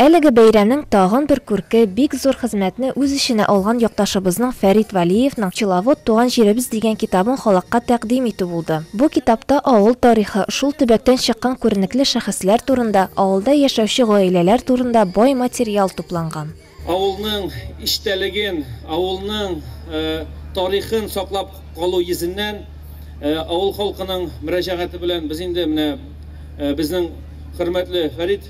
Әлеге бәйрәмнең тагын бер күрке, бик зур хезмәтне үз эченә алган якташыбызның Фәрит Вәлиевның Пчеловод, туган җиребез дигән китабын халыкка тәкъдим итү булды. Бу китапта авыл тарихы, шул төбәктән чыккан күренекле шәхесләр турында, авылда яшәүче гаиләләр турында бай материал тупланган. Авылның эчтәлеген, авылның тарихын саклап калу йөзеннән, авыл халкының мөрәҗәгате белән без инде менә безнең хөрмәтле Фәрит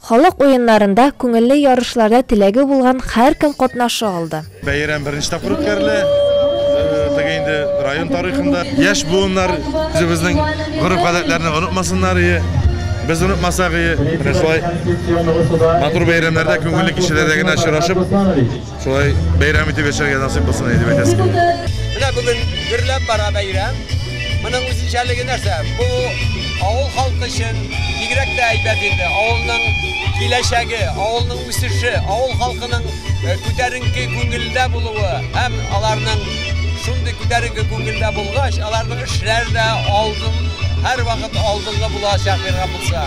Халык уеннарында, күңелле ярышларда теләге булган һәркем катнаша алды. Бәйрәм беренче тапкыр үткәрелә. Теге инде район тарихында. Яшь буыннар үзебезнең гореф-гадәтләрне онытмасыннар ие, без онытмасак ие. Менә шулай матур бәйрәмнәрдә күңелле кичәләрдә генә очрашып. Шулай бәйрәм итеп яшәргә насыйп булсын әйдеп әйтәсе килә. Менә бүген гөрләп бара бәйрәм. Моның үзенчәлеге нәрсә? Бу авыл халкы өчен бигрәк тә әйбәт инде. Авылның киләчәге, авылның үсеше, авыл халкының э, күтәренке күңелдә булуы һәм аларның шундый күтәренке күңелдә булгач, аларның эшләре дә алдын һәрвакыт алдынгы булачак биргән булса.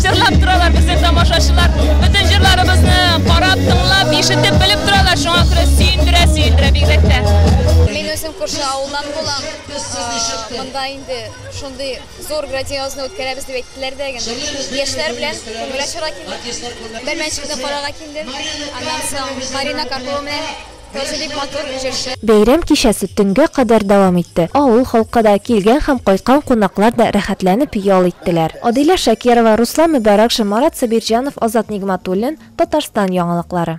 Җырлап торалар безнең тамашачылар. Бөтен җырларыбызны карап, тыңлап, ишетеп, белеп торалар. Шуңа күрә сөендерә, сөендерә бигрәк тә. Мин үзем күрше авылдан булам. Э, Монда инде шундый зур грандиозны үткәрәбез дип әйттеләр дә генә. Яшьләр белән күңел ачарга килдек. Бәрмәнчекне карарга килдем. Аннан соң Марина Карпова белән Кызы бик матур җырчы. Бәйрәм кичәсе төнгә кадәр дәвам итте. Авыл халкы да, килгән һәм кайткан кунаклар да рәхәтләнеп ял иттеләр. Адилә Шакирова, Руслан Мөбаракшин, Марат Сабирҗанов, Азат Нигъмәтуллин, Татарстан яңалыклары.